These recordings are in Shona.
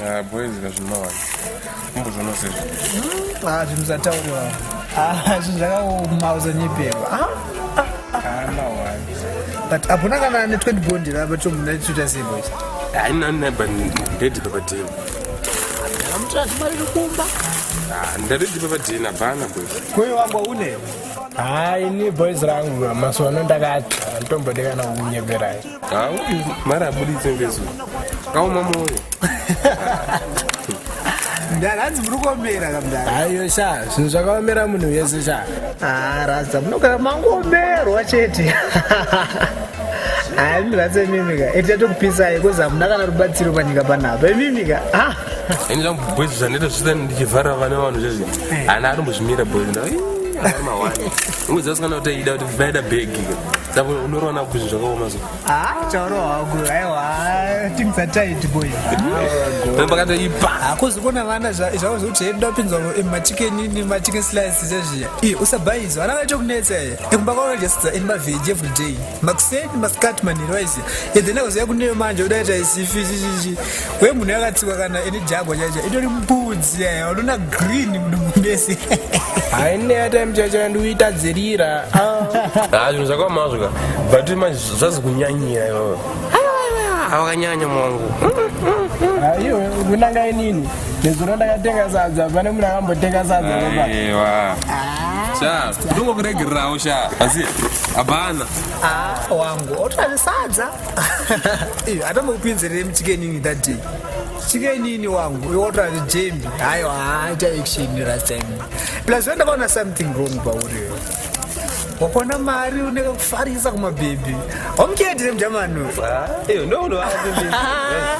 Ah, boys kazvinowana kumbozvona sezvo hmm, ah, zvinhu zvatauriwa ah, zvinhu zvakaoma uzonyeperwa but hapona kana ne 20 bondi rava chomunaichita sei boys hainaneba ndedibabadini ndaridzipa padina bana kuyo wangu une hayi ah, ni boys rangu masona ndakati anditombotekana kukunyeperai ha uyu mari abuditse ngezuva kaoma moyo ndanzi muri kuomera kamdara aiyo sha zvinhu zvakaomera munhu wese sha ah, rasa munogara mangomerwa chete hayi rase mimika eti yatokupisai kozi hamuna kana rubatsiro panyika panapa imimika ah. ini zvangu boys zvaneta zvita ndichivhara vana vanhu zvezvi eh. ana ari muzvimira boys unguziva sikana kuti ida kuti vaida bhegi saka unorowana kuzvi zvakaoma so ah, chaorohaku aiwa things are tight boy pakatoipa hakuzi ah, kona vana zvavo zvekuti hedu ndapinzwa machicken machicken slice zvezviya iye usabhaizwa vana vaitokunetsa iye ekumba kwavo just in mavheji every day makuseni masikati manhero aisi and then akuziva kuneyo manje udaita isifi chichichi we munhu yakatsiwa kana ine jagwa chacho itori mbudzi yaya unoona green mudumbu mese haine yatime chacho andiuita dzirira Ah, zvinhu zvakamazvo ka but manje zvazi kunyanyira ivawo avakanyanya mwangu aiwe kunanga inini nezuro ndakatenga sadza pane munhu akambotenga sadza ropa aiwa sha ndongokuregererawo sha asi hapana ah, wangu otove sadza atambokupinzerere muchikenini that day chikenini wangu iwotove jembi hayo haaita action rasem plus wendakaona something wrong pauri wakona mari uneka kufarisa kumabhebhi wamukendere mujamani uyo ah,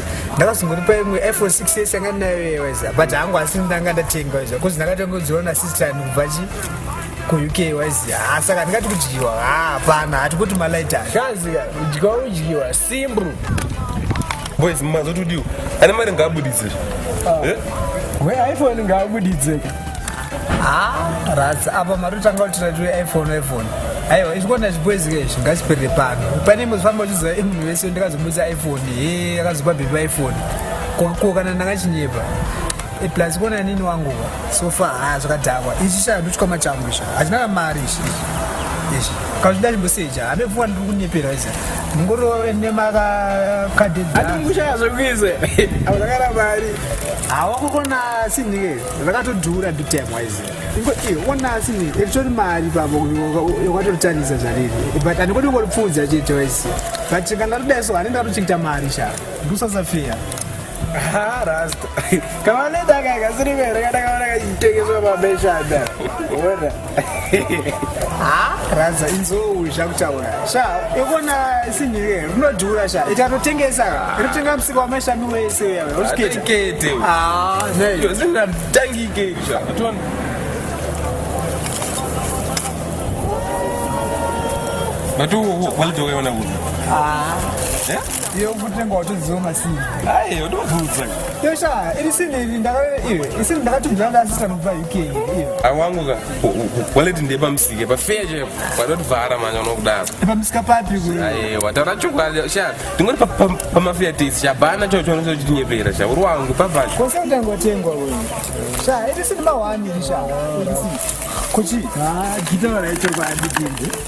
ndakazongoripa imwe iphone 6 yes yanga ndinayo yeweza but hangu asi ndanga ndatenga weza bcause ndakatongodziwa nasister yangu kubva chi kuuk waizi ha saka ndingati kudyiwa ha hapana hati kuti malaita kazi kudyiwa kudyiwa simbu boys mazotodiwa ane mari ngaabuditsira ah. eh? we iphone ngaabuditseka haa ratsi apa matotanga kutira tiri iphone iphone aiwa izvikuona zvibwezi ke izvi ngazviperere pano pane imwe zvifamba uchiziva munhu vese ndakazomudza iphone he akazopa bhipa iphone ko kana ndakachinyepa e, plus kuona nini wangu so far haa zvakadhakwa ichi shaa ndochikwama changu izvi hachina kamari izvi izvi kazvida chimboseja hame pfuwa ndiri kunyepera izi ndingorove nemakadhedhaatingushaya zvekuize auzakana mari hawakukona sinike rakatodhura big time wise ingo iona asi iritori mari pavo wakatoritsanisa zvariri but andikoti ungoripfuudza chete wise but kanga todai so anenge atochikita mari sha ndusasafeya rasta kavanedakakasirivere katakaona kachitengeswa mabeshada ona ha radza inzou zvakutaura sha ikona sinhire rinodhura sha itatotengesa rinotenga musika wamashami wese uyawe usikete ah, But who, who, what do you want to do? Ah. Yeah? Yo kutenga watoziwa masini. Ayi, watovuza. Yo sha, iri sini ndaka iri sini ndakatumira ndasisa mubva awangu ka waleti ndepamusike pafeya chaipo panotivhara manya unokudaro pamusika papi aiwa taura chokwadi sha tingoti pamafeya tisi chabhana chao chonese uchitinyepera sha uri wangu pabvacho kose utangotengwa we sha iti sini mahwani sha kuchi gita varaichokwadi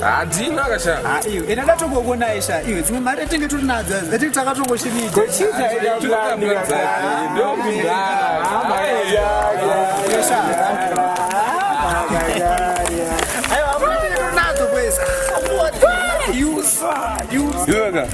hadzina kasha ah, iyo ena ndatongokuonai sha iyo dzimwe mari atinge tiri nadzo atinge takatongoshiiaaiwa